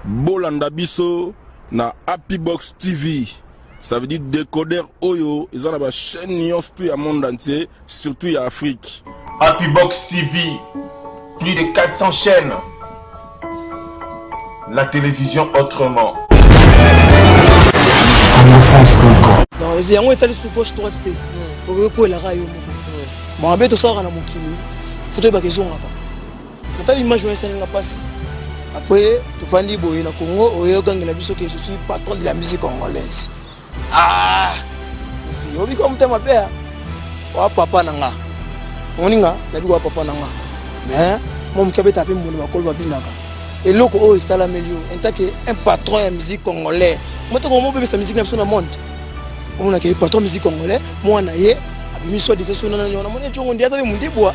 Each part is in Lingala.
Bolanda biso na Happybox TV. Ça veut dire décodeur oyo eza na ba chaîne nyonso tout ya monde entier, surtout ya Afrique. Happybox TV, plus de 400 chaînes. La télévision autrement. Non, yango etali sous gauche droite te. Okoki koyelaka yo moko. Mabe tosalaka na mokili, foto ebaka ezongaka. Natali image wana esalinga mpasi. Après tofandi boye na Congo oyo ogangela biso ke je suis patron de la musique congolaise. Ah! Ofi obika motema mabe ah. wa papa na nga. Omoni nga nabi wa papa na nga. Mais mo moke abeta mpe mbongo bakolo babinaka. Eloko oyo esalameli yo en tant que un patron ya musique congolais. Motoko mobebisa musique na biso na monde. Omonaka ye patron musique congolais, mwana ye abimi soit disant sona na nyona. Moni ncongo ndi aza mpe mondibwa.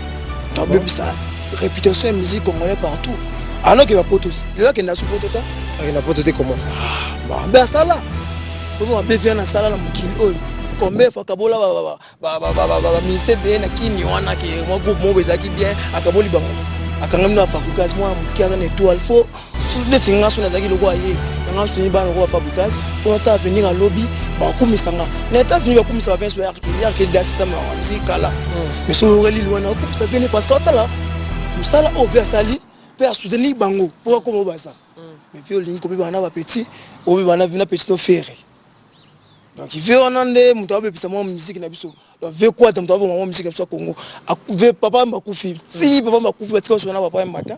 tobebisa réputation ya musique congolais partout alors ke bapoto lelo akenda su poto ta akenda poto te comment mabe ah, asala omo mabe via na sala na mokili oyo combien fois akabola baministre beye na kini wana ke mwa groupe moko ezalaki bien akaboli bango akangami na fabrikasi mwana moke aza na étoile fo neti nga so nazalaki lokola ye nanga soni bana lokola fabrigas mpo ata aveni nga lobi bakumisa nga na etats-unis bakumisa ba benso yarke yarke dasisa mawa msi kala hmm. mais so oyokeli liwa na bakumisa bene parce que otala mosala oyo mpe asali mpe asoutenir bango mpo bakoma oyo baza hmm. mais mpe olingi kobebana na bapetit obebana na petit to fere donc ve wana nde moto abebisa mwa miziki na biso donc ve kwata moto aboma mwa miziki na biso ya congo ve papa yamba akufi ti papa yamba akufi batika osona papa yamba ata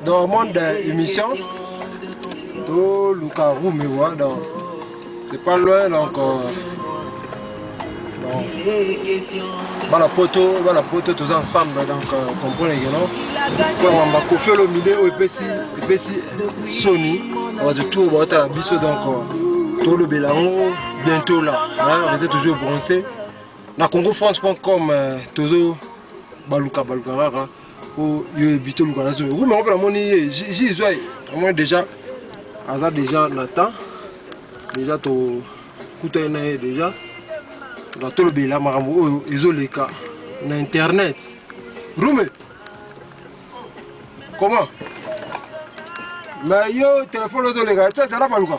donc monde émission toluka rumewa donc C'est pas loin donc euh, bana poto bana poto toza ensemble donc euh, comprendre que non mpo wamba kofi olomide oyo epesi epesi soni bato tour baotala biso donc euh, tolobela yango bientôt là rete toujours bronce na congo france com euh, tozo baluka baluka kaka po yo evite oluka na zomi rumi yango mpe namoni ye ji ezwa ye namoni déjà aza déjà na temps déjà tokutani na ye déjà na tolobela makambo oyo ezoleka na internet rume comment mais yo telefone ozoleka tete na baluka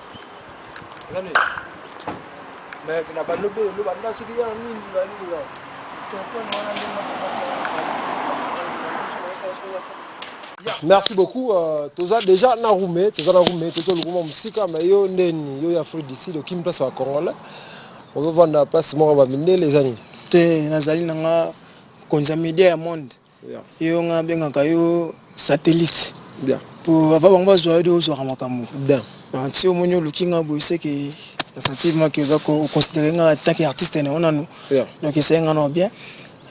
mais na balobi elo banda soki ya mingi balingi ba telefone wana nde merci beaucoup uh, toza déjà na rume toza na rume toza lokuma mosika mais yo ndeni yo ya afrique du sud okimi place ya congolais ozovanda place moko ya bamindele eza nini te nazali nanga konza media ya monde Yo nga bengaka yo satellite po avant bango bazwa yo de ozwaka makambo donc si omoni oluki nga boye seke na sentir moi que oza ko considérer nga en tant que artiste na yo nanu donc esaye nga nao bien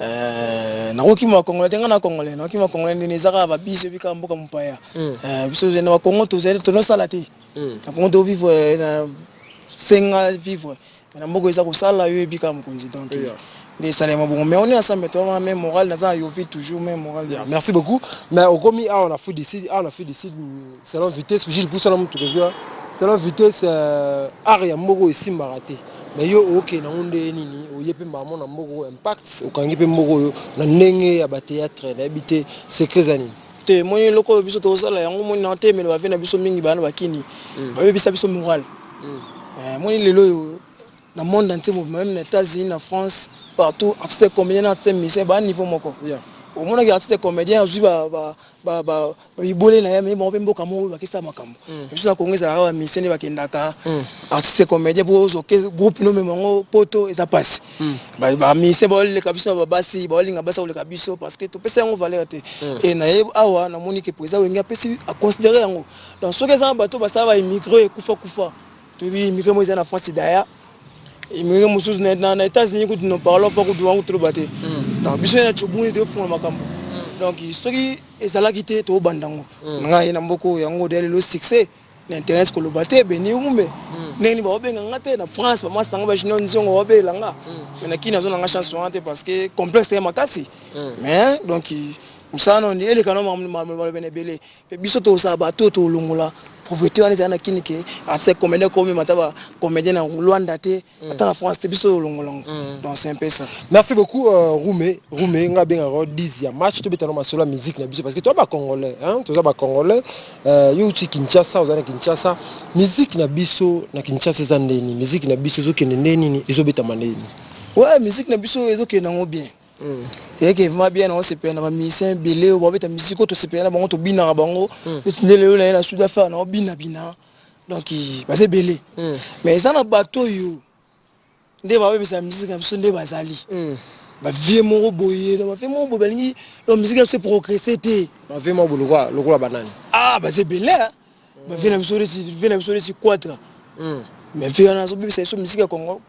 Euh, nakokima congolais te ngai na congolais nakokima congolais ndeni eza kaka babisi oyebi kaka mboka mopaya mm. euh, biso ozali na bakongo tozali tonosala te mm. na kongo tovivre euh, na senga vivre Na mboka eza kosala yo yebi kaka mokonzi donc nde esalema bongo mais on est ensemble toi wana meme morale naza na yovi toujours meme morale yeah, merci beaucoup mais okomi awa na fudi sud awa na fudi sud selon vitesse puis j'ai poussé na mutu kozwa selon vitesse euh, art ya mboko esimbaka te mais yo oke na ngunde nini oye pe mbamo na mboko impact okangi pe mboko yo na ndenge ya ba théâtre na bité secret za nini te moni eloko oyo biso tozosala yango moni na otemela bave na biso mingi bana bakini mm. babebisa biso morale Omoni lelo oyo na monde entier mobimba meme na Etats-Unis na France partout artiste comédien na artiste musicien ba niveau moko omonaki artiste comédien azwi bibwele na ye amemi bango mpe mboka moko oyo bakisa makambo mm. biso na Congo ezalaka ba musicien nde bakendaka mm. artiste comédien mpo ozoke groupe no mema yango poto eza mpasi mm. ba musicien baoleka biso na babasi baolinga basi koleka biso parce que topesa yango valeur te e na ye awa namoni ke président wenge apesi aconsidere yango Donc soki eza na bato basala ba immigre ekufa kufa toyebi immigre moko eza na France daya immigre mosusu na États-Unis kutu no parlons pas kutu wango toloba te hmm. donc biso na chobuni toyofunga makambo hmm. donc soki ezalaki te tobanda yango hmm. ngai na mboka oyo yango odeya lelo succès na internet koloba te beni umbe ndenge nini baobenga nga te na france bamwasi na nga bajunior nzongo baobelela nga me na kini azonanga chance wana te parce que complexe ya makasi mais donc mosala noni elekana maloba na ebele Pe biso tokosala batu oyo tokolongola proprete wana ezali na kin ke ancien comedien okomema ata ba comedien na luanda te ata na france te biso tokolongola yango donc c'est un peu ça. Merci beaucoup Rume Rume nga abengaka yo dizzy ya match tobeta no masolo ya musique na biso parce que toza ba congolais hein toza ba congolais yo owuti Kinshasa oza na Kinshasa musique na biso na Kinshasa eza nde nini musique na biso ezokende nde nini ezobetama nde nini. Ouais musique na biso ezokende nango bien. Mm. eyaki evema bien nango sepela na bamusicien ebele oyo babeta musike oyo tosepela na bango tobinaka bango mm. neti nde lelo naye na sud affaire nango binabina donc baza ebele mm. mais eza na bato oyo nde babebisa musike na biso nde bazali bavie moko boye na bavie moko boye balingi musike na biso eprogresse te bavie moko boye lokola banani ah baza ebele ba vie na biso neti vie na biso neti quatra hmm. mais vie wana azobebisa biso miziki ya congo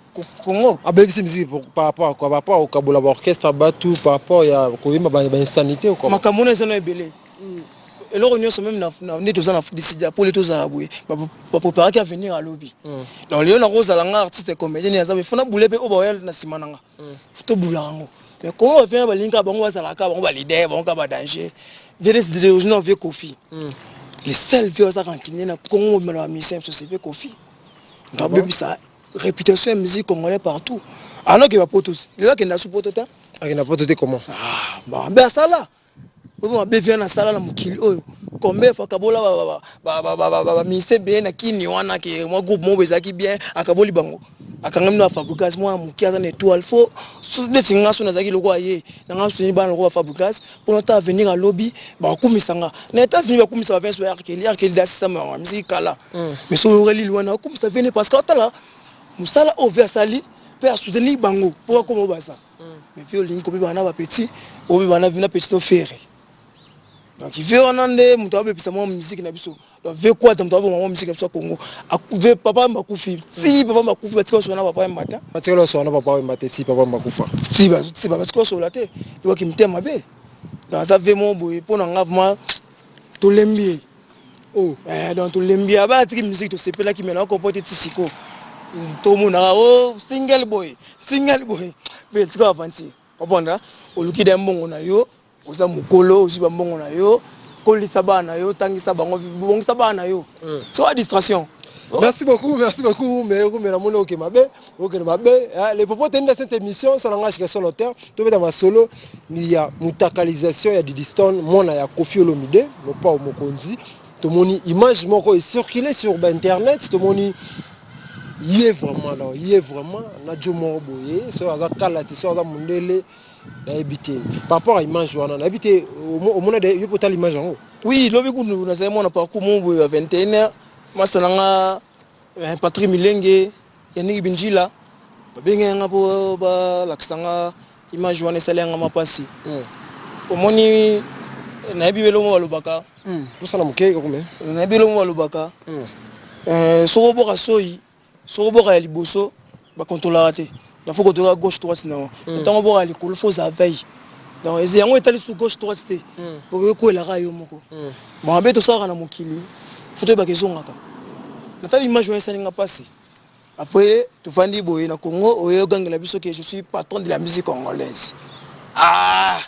congo abebisi miziki par rapport quoi par rapport okabola ba orchestre batu par rapport ya koyemba ba insanité quoi makambo wana eza na ebele hmm. eloko nyonso meme nde toza na disida pole tozala boye bapreparaki avenir alobi hmm. donc lelo nakozala nga artiste comédien aza efona bule mpe oyo baoya na nsima na nga to bula yango mais comment ba vient ba linga bango ba zala ka bango ba leader bango ka ba danger vele zideleoji na vie kofi hmm. le seul vie oza kankine na kongo mobimba na ba musicien so c'est vie kofi na bebisa réputation ya musique congolais partout alors que ba poto lelo akenda su poto te akenda poto te comment ah bon ben asala oyo mabe via nasala na mokili oyo combien fois akabola baministre ebele na kini wana ke mwa groupe moko ezalaki bien akaboli bango akanga mino bafabricas mwana moke aza na etoile fo neti nga so nazalaki lokola ye nanga soni bana lokola bafabricas mpona ta avenir alobi bakumisa nga na etats-unis bakumisa bavenso ya arkeli arkeli dasisama yango misiki kala mm. mais so oyokeli liwana bakumisa vene parce que atala mosala oyo ve asali mpe asoutenir bango mpo bakoma oyo baza mais mpe olingi kobebana na bapeti obebana na vina petit to fere donc ve wana nde moto abebisa mwa miziki na biso donc ve kwata moto aboma mwa miziki na biso ya congo ve papa yemba akufi ti papa yemba akufi batika osola na papa yemba ta batikala osola na papa yemba te ti papa yemba akufa ti batika osola te liwaki mitema mabe donc aza ve moko boye mpo na nga vraimen tolembi ye oh eh, donc tolembi aba atiki musique tosepelaki mais na compote ti siko tomonaka o oh, single boy single boy mpe tika aventure oponda oluki da mbongo na yo oza mokolo ozwi bambongo na yo kolisa bana na yo tangisa bango bongisa bana na yo hmm. so a distraction Oh. Merci beaucoup, merci beaucoup. Mais vous, mais la mono, ok, ma bé, ok, ma bé. Hein, les propos, t'es une de cette émission, ça l'engage que sur l'auteur, tu veux dans ma solo. ya mutakalisation ya Didistone mwana ya Koffi Olomide Mopao Mokonzi tomoni image moko e circuler sur ba internet tomoni ye vraiment alors ye vraiment na jo moko boye soki aza kalati soki aza mundele nayebi te par rapport à image wana nayebi te omona de yo mpe otala image yango oui lobi kutu nazali mwana parcours moko boye ya 21 heures masala nga Eh, Patrick Milenge, Yannick Bindjila, babengaki nga mpo balakisa nga image wana esali yanga mapasi hmm. omoni eh, nayebi belongo balobaka tosala hmm. moke kokome nayebi belongo balobaka hmm. eh, soko oboka soyi soko oboka ya liboso ba controlaka te donc faut kotoka gauche droite na yango mm. ntango obwaka likolo faut oza veille donc eze yango etali su gauche droite te mm. okoki koelaka yo moko mm. bon abe tosalaka na mokili fo toyebaka ezongaka natali image wana esalinga mpasi après tofandi boye na congo oye ogangela biso ke je suis patron de la musique congolaise ah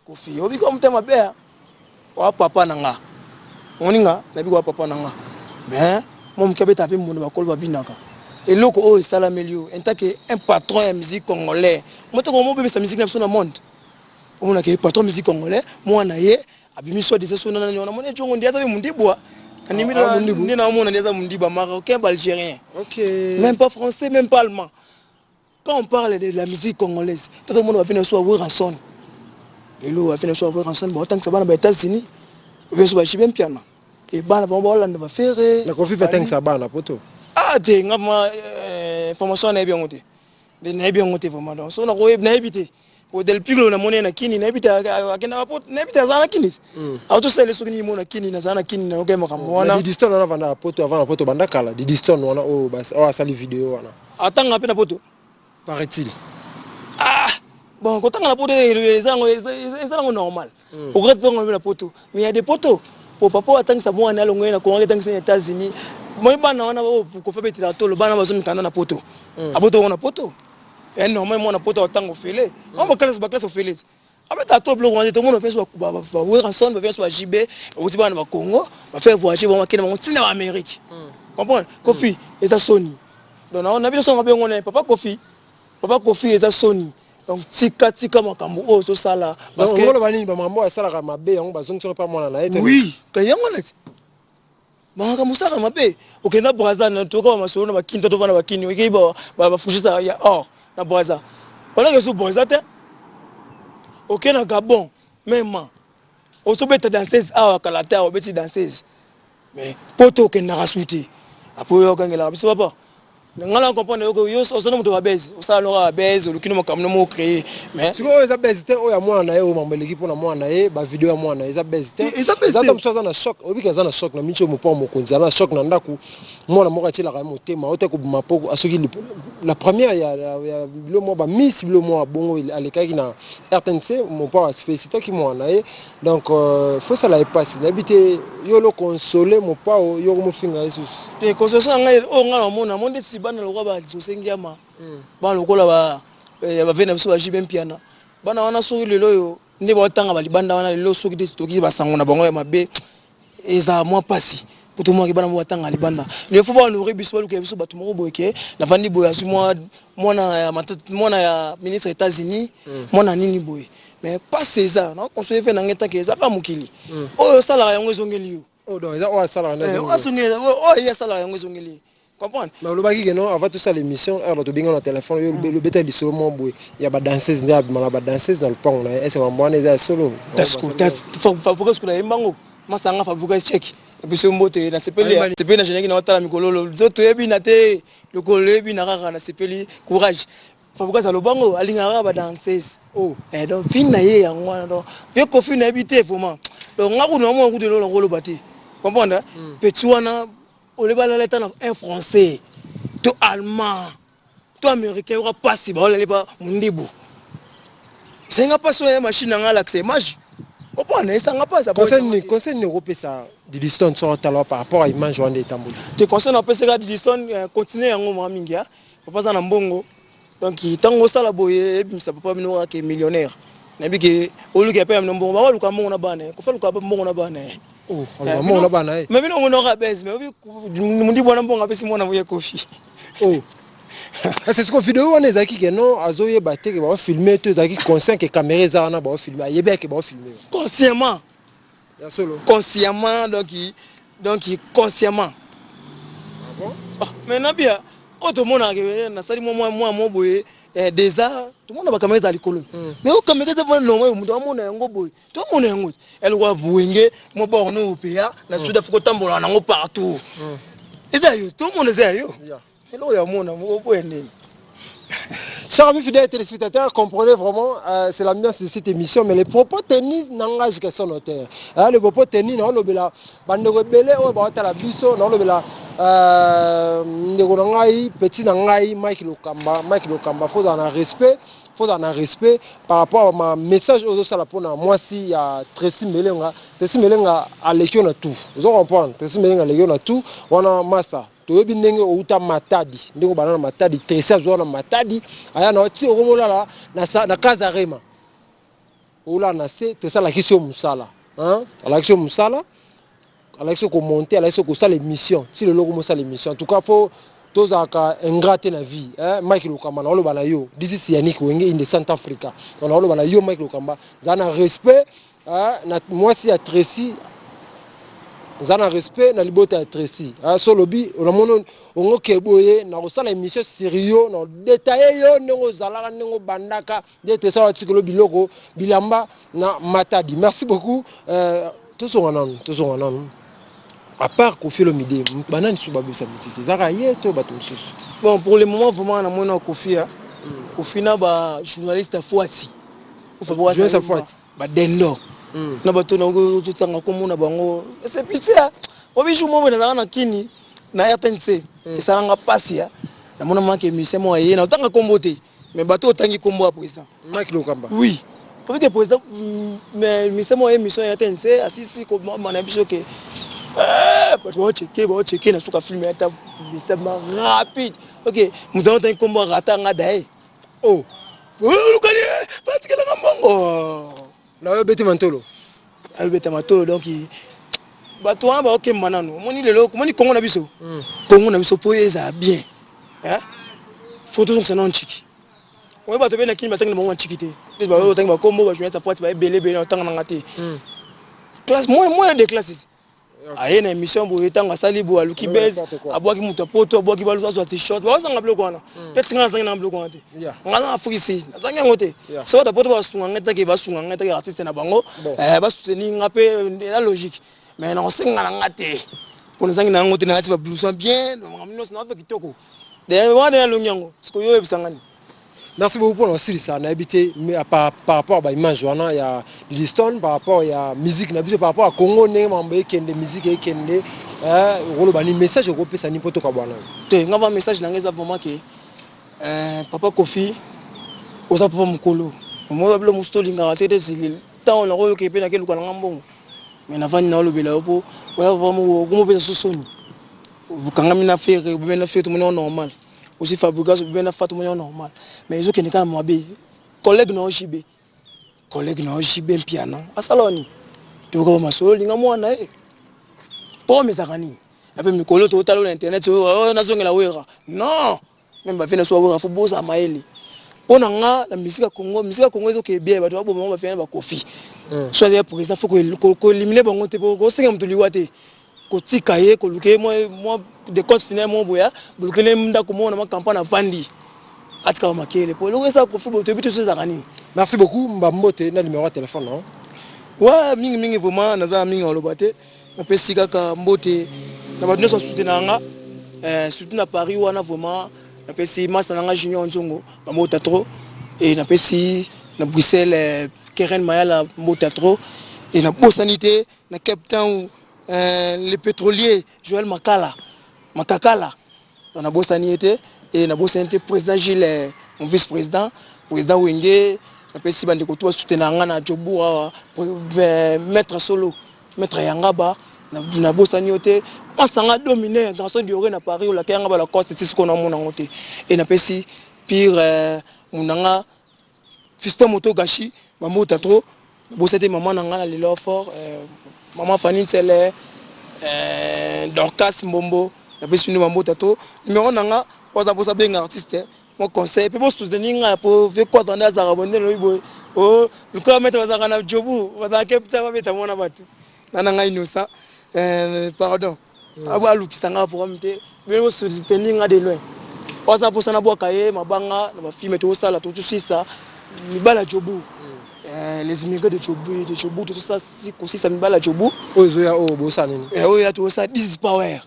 Koffi obi ko mutema mabe hein. Wa papa na nga. Omoni nga na biko wa papa na nga. Mais mo muke abeta pe mbondo bakolo babinaka. Eloko oyo esalameli yo en tant que un patron ya musique congolais. Moto ko mo bebisa musique na biso na monde. Omona ke patron musique congolais mwana ye abimi soit disant sona nani wana mona jongo ndi aza pe mundibwa. Animi na ndi na omona ndi aza mundiba marocain ba algerien. Okay. Même pas français même pas allemand. Quand on parle de la musique congolaise, tout le monde va venir sur Werrason. Et lui va venir sur Werrason, bon tant que ça va aux États-Unis, je suis chez bien piano. Et bana ba Hollande va faire. Na kofi pe tant que ça bana poto. Ah te ngama euh, formation na bien ngote. Mais na bien ngote vraiment donc so na ko na éviter. o del piglo na mone na kini na bita akenda ba pot na bita zana kini hmm. a to sele soki ni mona kini na zana kini na oke maka mona di diston na vanda poto avant poto banda kala di diston wana o oh, bas o oh, asali video wana atanga pe na poto paraît-il ah bon kotanga na poto ezango ezango normal Mm. Okoki tonga lobi na poto. Mais ya de poto. Po papa atangisa mwana na longo na Congo atangisa na États-Unis. Moi bana wana o ko fa betela tolo bana bazo mikanda na poto. Mm. Aboto wana poto. Et non moi mwana poto atango fele. Mm. On ba classe ba classe fele. Abeta to bloko wana to mona fenso ba ba ba Werrason ba fenso ba JB oti bana ba Congo ba faire voyager ba makena ba tina Amérique. Mm. Comprendre? Kofi mm. eza soni. Donc na na biso ngabengona papa Kofi. Papa Kofi eza soni. Donc tika tika makambo oyo ozo sala parce que ngolo bani ba makambo asalaka mabe yango bazongisa pa mwana na ete Oui, ka yango na Maka musaka mabe. Okenda Brazza na toka ba masolo na ba kinta to bana ba kinyo. Ike ba ba, ba fushisa ya or na Brazza. Wala ke su Brazza te. Okenda Gabon même. ozobeta danseuse awa kala te awa obeti danseuse mais poto okendaka su te apo oyo ogangelaka biso papa nga na comprendre yoko yo oza na moto ya babese osala no kaka babese oluki no makambo na moko créer mais sikoyo oyo eza bese te oyo ya mwana na ye oyo mambo eleki mpo na mwana na ye bavideo ya mwana na ye eza bese te eza ta mosusu aza na choc oyebiki aza na choc na minci oyo mopao mokonzi aza na choc na ndako mwana moko atyelaka ye motema auta kobima mpo asoki la première ya, ya, ya bilo mwa bamiss bilo mwa bongo alekaki na rtnc mopao afelicitaki mwana na ye donc euh, fosala ye mpasi nayebi te yo lo console mopao yo komofinga ye susu te console na ngai oyo ngai namona mo ndeti bana lokola bajose ngiama hmm. bana lokola ba eh, bavei na biso bajibe mpiana bana wana soki lelo oyo nde baotanga balibanda wana lelo soki te toki basango na bango ya mabe eza mwa pasi po tomonaki bana moko batanga libanda lelo fo baonore biso baluka ya biso bato moko boye ke navandi boye azwi mwana ya ministre états-unis mm. mwana nini boye mais pasi eza na conseiller mpe na ngai tanke eza kaka mokili mm. oyo osalaka yango ezongeli yo oyo oh, oh, ye asalaka yango ezongeli ye comprendre mais olobaki que non avant tosala émission heure bato benga na téléphone yo mm. lobeta lisolo mwa boye ya badanseuse nde abimaka badanseuse na lopango na ye ese mambo wana eza ya solo fabrikas kuna yembango masanga fabrikas cheki biso mbote nasepeli nasepeli na jenaki na otala mikololo nzoto yebi na te lokolo loyebi na kaka nasepeli courage fabrikas alobango alingaka kaka badanseuse oh. eh, donc fini na ye yango wana donc vie kofi nayebi te vraiment donc nga kuna mwa kutu eloko nakoloba te comprendre hmm. petit wana Oleba na leta na un français to allemand to américain yoka pasi ba olali ba mundibu. Senga pasi oya machine na ngala kse image. Opona esanga pasi. Conseil ni conseil ni ko pesa Didiston so talo par rapport à image wande etamboli. Te conseil na pesa ka Didiston euh, continuer yango mwa mingi ya. Papa za na mbongo. donc ntango osala boye ebimisa papa bino kaka ke millionnaire nayebi ke oluki ya pere mino mbongo bango aluka mbongo na bana ye kofa aluka mbongo na bana ye oh, eh, mbongo na bana ye me bino omonaka bese me obi mundi bwana mbongo apesi mwana boye kofi oh. kasi siko video wana ezalaki ke non azoyeba te ke baofilme to ezalaki conscient ke kamera eza wana baofilme ayebi yake baofilme consciemment Ya solo. Consciemment donc donc consciemment. Ah bon? Ah, mais Nabia, oyo tomonaka ke eh, nasali mwa mwa mwa mwa boye eh, deza tomona bakamera ezala likolo Mm. mais oyo kamera eza mpona longo oyo moto amona yango boye tomona yango te elokwa buenge mwa borne oyo peya na Mm. sud afrika otambolaka nango partout Mm. eza ya yo tomona eza ya yo Yeah. Hello ya mona moko boye nini Chers amis fidèles téléspectateurs, comprenez vraiment, euh, c'est l'ambiance de cette émission, mais les propos tenus n'engagent que son auteur. Hein, les propos tenus, non, lobela, bandeko ebele, oyo bawata la biso, non, lobela, euh, ndeko na ngai, petit na ngai, Mike Lokamba, Mike Lokamba, faut en respect, faut en respect par rapport à ma message aux autres la pona moi si ya Tracy Melenga Tracy Melenga alekio na tout vous comprenez Tracy Melenga alekio na tout wana master toyebi ndenge outa matadi ndenge obanda na matadi tresi azwa na matadi aya na ti okomolala na kaza rema olala na se tresi alakisi yo mosala alakisi yo mosala alakisi yo komonte alakisi yo kosala émission ti lelo okomosala émission en tout cas fo tozalaka ingrat te na vie eh, mike lokamba na oloba na yo this is yannick wenge in the centre africa na oloba na yo mike lokamba zala na respect Ah, na mwasi ya Tracy za na respect na libota ya Tracy ah, so lobi onamono ongo ke boye na kosala emission sérieux na detailler yo ndenge ozalaka ndenge obandaka nde Tracy wa tikelo biloko bilamba na matadi merci beaucoup euh, tozonga nanu tozonga nanu à part Koffi Olomide banani suba bosa musique ezaka ye to bato mosusu bon pour le moment vraiment na mona Koffi ya Koffi na ba journaliste ya Fuati joyeux sa fati ba dendo hmm. na bato na totanga kombo na bango c'est pitié hein. obi jour moko nazalaka na kini na rtnc hmm. esalanga mpasi ya namona maki émission moko aye na otanga kombo te mais bato otangi kombo ya président maki lokamba oui obi ke président hmm, mais émission moko émission ya rtnc asisi komama na biso ke eh, bato baocheke baocheke na suka film ya ta bisema rapide ok moto yango otangi kombo arata nga daye oh olukani eh, batikelanga mbongo nayo beti mantolo ayo beta matolo donc bato wana baokemba nano omoni lelo omoni kongo na biso kongo hmm. na biso mpo ezala bien fo tozongisa nano nciki oyo bato bena kini batangi na bango banciki te plus baoyo batangi bakombo bajournaliste apwati baebele ebele na otanga nanga te classe moyen de classes aye na émission boye ntango asali boye aluki base abwaki moto ya poto abwaki balusu azwa t-shirt baozanga biloko wana hmm. peti ngai nazangi na biloko wana te ngai azanga fukisi nazangi yango te so bato ya poto basunga ngai take basunga ngai take artiste na bango eh, basuteni ngai mpe eh, eza logique mais nakosenga na ngai te mpo nazangi na yango te nalati babluson bien makambo nyonso naope kitoko wana nalongi yango sikoyo oyebisa ngani Merci beaucoup pour l'osilisa na habité mais à par, par rapport à ba image wana ya Liston par rapport ya musique na biso par rapport à Congo ndenge mambo ekende musique ekende euh rolo bani message ko pesa ni poto kabwana te nga ba message na nga eza vraiment que euh, papa Kofi oza papa mukolo moi babilo musu to lingaka te te zilil tant na koyo ke pe na ke luka na nga mbongo mais na vandi na lobela yo po oya papa mukolo ko mo pesa sosoni bukangami na fere bumena fete mo normal Aussi Fabregas obi na Fatou Moyo normal. Mais ezo kende kana mwabe. Collègue na OJB. Collègue na OJB mpiana. Asala wani. Toka ba masolo linga mwana eh. Po mezaka nini? Ape mikolo to talo na internet oyo oh, oh, nazongela wera. Non. Même ba fena so wera fo boza maele. Po na nga na musique ya Congo, musique ya Congo ezo ke bien bato ba boma ba fena ba kofi. Mm. So ya président fo ko ko éliminer bango te po ko senga mutu liwa te. kotika ye koluka ye mwa decompte final moko boya bolukeli ye ndako moko na makampa na vandi atikaka makele mpo eloko esala kofi boto yebi te so ezalaka nini merci beaucoup mba mbote na numero ya telefone na yo wa mingi mingi vraiment naza na mingi aloba te napesi kaka mbote na bato nyonso basutenaka nga eh, surtout na paris wana vraiment napesi masa na nga junior nzongo bambota trop e napesi na bruxelles eh, keren mayala mbota trop e nabosani te na Cape Town euh, le petrolier Joël Makala Makakala na nabosani ye te e nabosani te président Gilles euh, mon vice président président Wenge napesi bandeko tu basutena yanga na Jobourg awa euh, maître solo maître Yangaba nabosani yo te masanga domine garçon diore na Paris olakeyanga balacoste ti sikoyo namona yango te e napesi pire monanga Fiston moto gashi ba mbuta trop bosa te maman na nga na lelo fort euh, maman Fanny Nsele euh, Dorcas Mbombo na pesi bino ba mbuta trop numéro na nga waza bosa benga artiste mon conseil pe bo soutenir nga po vieux quoi tanda azaka bonde lobi boye oh luka meta bazaka na jobu bazaka kepta ba beta mona batu na na nga inosa euh, pardon abo alukisa nga programme te bino bo soutenir nga de loin waza posa na bwaka ye mabanga na ba filme to sala to tusisa mibala jobu eh, les immigrés de jobu de jobu to sala si kosisa mibala jobu oyo zoya oyo oh, bosa nini eh oyo ya to sala 10 power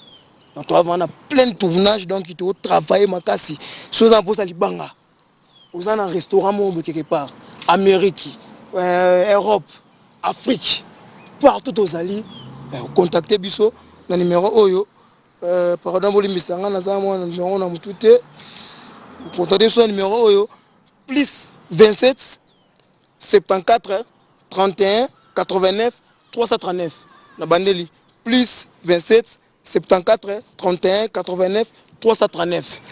donc to avana plein tournage donc to travailler makasi soza posa libanga Oza na restaurant moko boye quelque part, Amerique, euh, Europe, Afrique, partout ozali, eh, contacter biso na numero oyo. Euh, pardon, bolimbisa nga naza mwa na numero na mutu te. Contacter biso na numero oyo plus 27 74 31 89 339 na bandeli plus 27 74 31 89 339.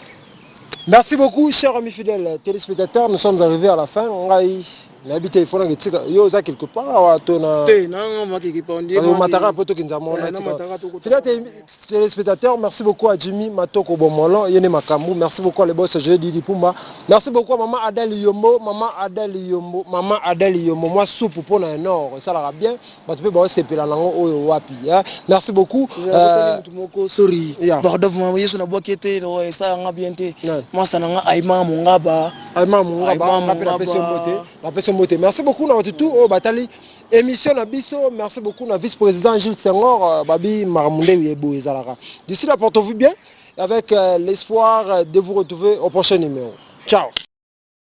Merci beaucoup, chers amis fidèles téléspectateurs. Nous sommes arrivés à la fin. Ngai, nayebi te ifona ngetika yo oza quelque part awa to na te nanga maki ki pondie na mataka poto kinza mona tika fidèle téléspectateur merci beaucoup à Jimmy Matoko Bomolo yene makambu merci beaucoup à le boss Joe Didi Pumba merci beaucoup à maman Adali Yombo maman Adali Yombo maman Adali Yombo moi soupe pona un or ça la bien bato mpe baosepela nango oyo wapi hein? merci beaucoup euh, motu moko sori yeah. bardov mama yesu nabwaki ete esala nga bien te yeah. mwasa na nga aima mongaba aima mongaba mpe napesi yo mbote napesi yo mbote merci beaucoup na bato tu oyo batali émission na biso merci beaucoup na vice président gilles sengor euh, babi maramunde ye boye ezalaka d'ici là porte vous bien avec euh, l'espoir de vous retrouver au prochain numéro ciao